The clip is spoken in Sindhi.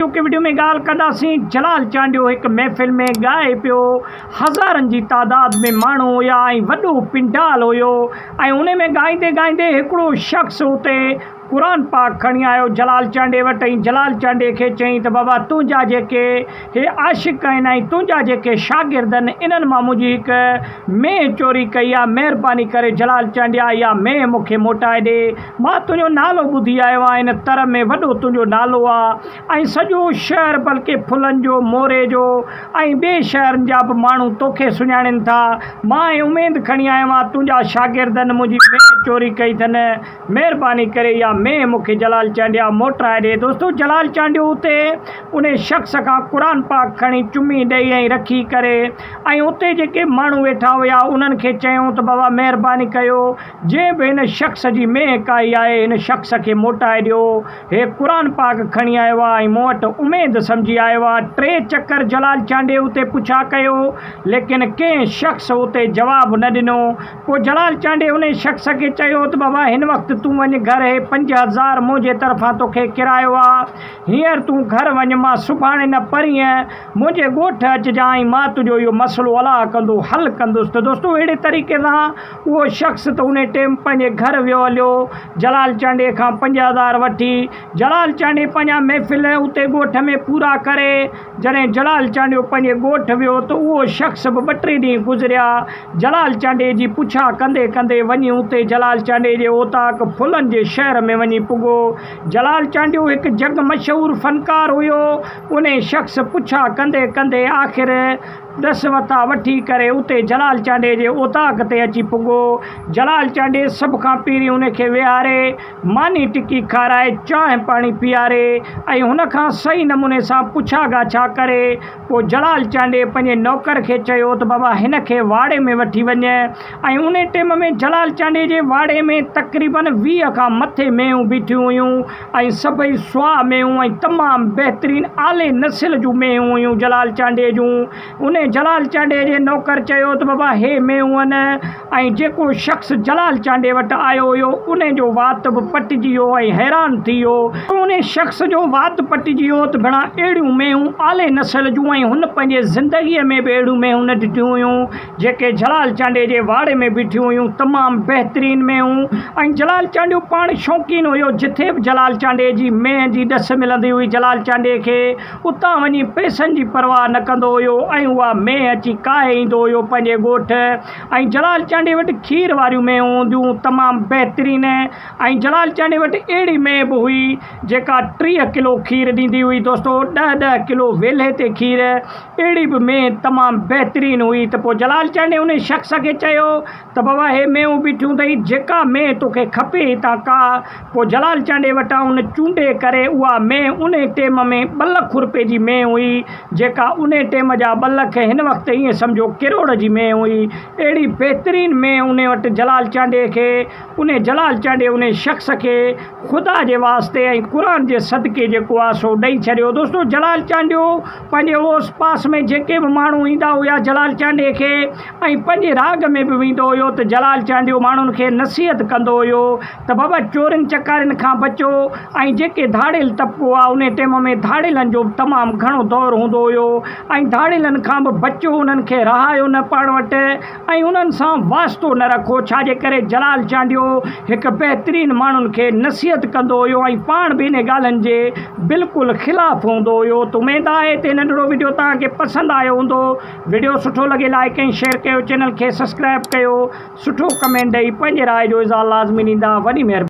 چونڪه وڊيو ۾ ڳالهه ڪنداسين جلال چانڊيو هڪ محفل ۾ ڳائي پيو هزارن جي تعداد ۾ ماڻهو هيا ۽ وڏو پنڊال هيو ۽ انهي ۾ ڳائيندي ڳائيندي هڪڙو شخص اتي قرآن پاڪ کڻي آيو جلال چانڊيي وٽ ۽ جلال چانڊيي کي چيائين ته بابا تنهنجا جيڪي هي عاشق آهن ۽ تنهنجا جيڪي شاگرد آهن انهن مان منهنجي هڪ مينهن چوري ڪئي آهي مهرباني ڪري جلال چانڊيا اها مينهن مون کي موٽائي ڏي مان تنهنجو نالو ٻڌي آيو آهيان، ان تر ۾ وڏو تنهنجو نالو آهي ۽ سڄو شهر بلڪه ڦلن جو، موري جو ۽ ٻئي شهرن جا به ماڻهو توکي سڃاڻين ٿا. مان هي اميد کڻي آيو آهيان، تنهنجا شاگردن منهنجي مينهن چوري ڪئي اٿن. مهرباني ڪري اها مينهن مون کي جلال چانڊيا موٽرائي ڏي. دوستو جلال چانڊيو اتي انهي شخص کان قرآن پاڪ کڻي چمي ڏئي ۽ رکي ڪري ۽ اتي جيڪي ماڻهو ويٺا هيا انهن کي چيائون ته بابا مهرباني ڪيو جنهن به هن شخص جي مينهن ڪاهي آهي، هن شخص کي موٽائي ڏيو. هي قرآن پاڪ کڻي آيو آ ۽ مون وٽ اميد سمجهي آيو آ. ٽي چڪر جلال چانڊيو اتي پڇا ڪيو، ليڪن ڪنهن شخص اتي جواب نه ڏنو. پوء جلال چانڊيو انهي شخص کي چيو ته بابا هن وقت تون وڃ گهر، هي پنج هزار منهنجي طرفان توکي ڪرايو آ. هينئر تون گهر وڃ، مان سڀاڻي نه پرينء منهنجي ڳوٺ اچجانء مان تنهنجو اهو مسئلو الاء ڪندو حل ڪندس ته دوستو اهڙي طريقي سان اهو شخص ته انهي ٽيم پنهنجي گهر ويو هليو جلال چانڊيي کان پنج هزار وٺي جلال چانڊيي پنهنجا محفل اتي ڳوٺ ۾ پورا ڪري جڏهن جلال چانڊيو پنهنجي ڳوٺ ويو ته اهو شخص به ٻه ٽي ڏينهن گذريا جلال چانڊيي جي پڇا ڪندي ڪندي وڃي اتي جلال چانڊيي جي اوطاق ڦلن جي شهر ۾ وڃي پڳو جلال چانڊيو هڪ جڳ مشهور فنڪار هيو انهي شخص پڇا ڪندي ڪندي آخر ڏس وتا وٺي ڪري اتي جلال چانڊيي جي اوطاق تي اچي پڳو. جلال چانڊيي سڀ کان پهرين انهي کي ويهاري، ماني ٽڪي کارائي، چانهه پاڻي پيئاري ۽ هن کان صحيح نموني سان پڇا ڳاڇا ڪري پوء جلال چانڊيي پنهنجي نوڪر کي چيو ته بابا هن کي واڙي ۾ وٺي وڃ، ۽ انهي ٽيم ۾ جلال چانڊيي جي واڙي ۾ تقريبن ويهه کان مٿي مينهون بيٺيون هيون ۽ سڀئي سواهه مينهون ۽ تمام بهترين اعلي نسل جون مينهون هيون جلال چانڊيي جون. انهي جلال چانڊيي جي نوڪر چيو ته بابا هي مينهون آهن ۽ جيڪو شخص جلال چانڊيي وٽ آيو هيو انهي جو وات به پٽجي ويو ۽ حيران ٿي ويو ته انهي شخص جو وات پٽجي ويو ته ڀيڻا اهڙيون مينهون اعلي نسل جون ۽ هن پنهنجي زندگي ۾ به اهڙيون مينهون نه ڏٺيون هيون. جيڪي جلال چانڊيي جي واڙي ۾ بيٺيون هيون تمام بهترين مينهون ۽ جلال چانڊيو پاڻ شوقين هيو جٿي به جلال چانڊيي جي مينهن جي ڏس ملندي هئي جلال چانڊيي کي اتان وڃي پئسن جي پرواهه نه ڪندو هيو ۽ اها مينهن اچي ڪاهي ايندو هيو پنهنجي ڳوٺ ۽ جلال چانڊيي وٽ کير واريون مينهون هونديون تمام بهترين ۽ جلال چانڊيي وٽ اهڙي مينهن به هئي جيڪا ٽيهه ڪلو کير ڏيندي هئي دوستو ڏهه ڏهه ڪلو ويلهي تي کير اهڙي به مينهن تمام بهترين هئي ته پوء جلال چرني ان شخص کي چيو ته بابا هي مينهون بيٺيون اٿئي جيڪا مينهن توکي کپي هتان ڪاهه پوء جلال چرني وٽان ان چونڊي ڪري اها مينهن ان ٽيم ۾ ٻه لک روپئي جي مينهن هئي جيڪا ان ٽيم جا ٻه لک هن وقت ائين سمجهو ڪروڙ جي مينهن هئي اهڙي بهترين مينهن ان وٽ جلال چرني کي انهي جلال چانڊيو انهي شخص کي خدا جي واسطي ۽ قرآن جي صدقي جيڪو آ سو ڏئي ڇڏيو. دوستو جلال چانڊيو پنهنجي اوس پاس ۾ جيڪي به ماڻهو ايندا هيا جلال چانڊيي کي ۽ پنهنجي راڳ ۾ به ويندو هيو ته جلال چانڊيو ماڻهن کي نصيحت ڪندو هيو ته بابا چورين چڪارين کان بچو ۽ جيڪي ڌاڙيل طبقو آ انهي ٽيم ۾ ڌاڙيلن جو به تمام گهڻو دور هوندو هيو ۽ ڌاڙيلن کان به بچو انهن کي رهايو نه پاڻ وٽ ۽ انهن سان واسطو نه رکو، ڇا جي ڪري جلال چانڊيو هڪ بهترين ماڻهن کي نصيحت ڪندو هيو ۽ پاڻ به انهي ڳالهن جي بلڪل خلاف هوندو هيو ته اميد آهي ته هي ننڍڙو وڊيو توهان کي پسند آيو هوندو وڊيو سٺو لڳي لائيڪ ۽ شيئر ڪيو چينل کي سسڪرائب ڪيو سٺو ڪمينٽ ڏئي پنهنجي راء جو اظهار لازمي ڏيندا وڏي مهرباني.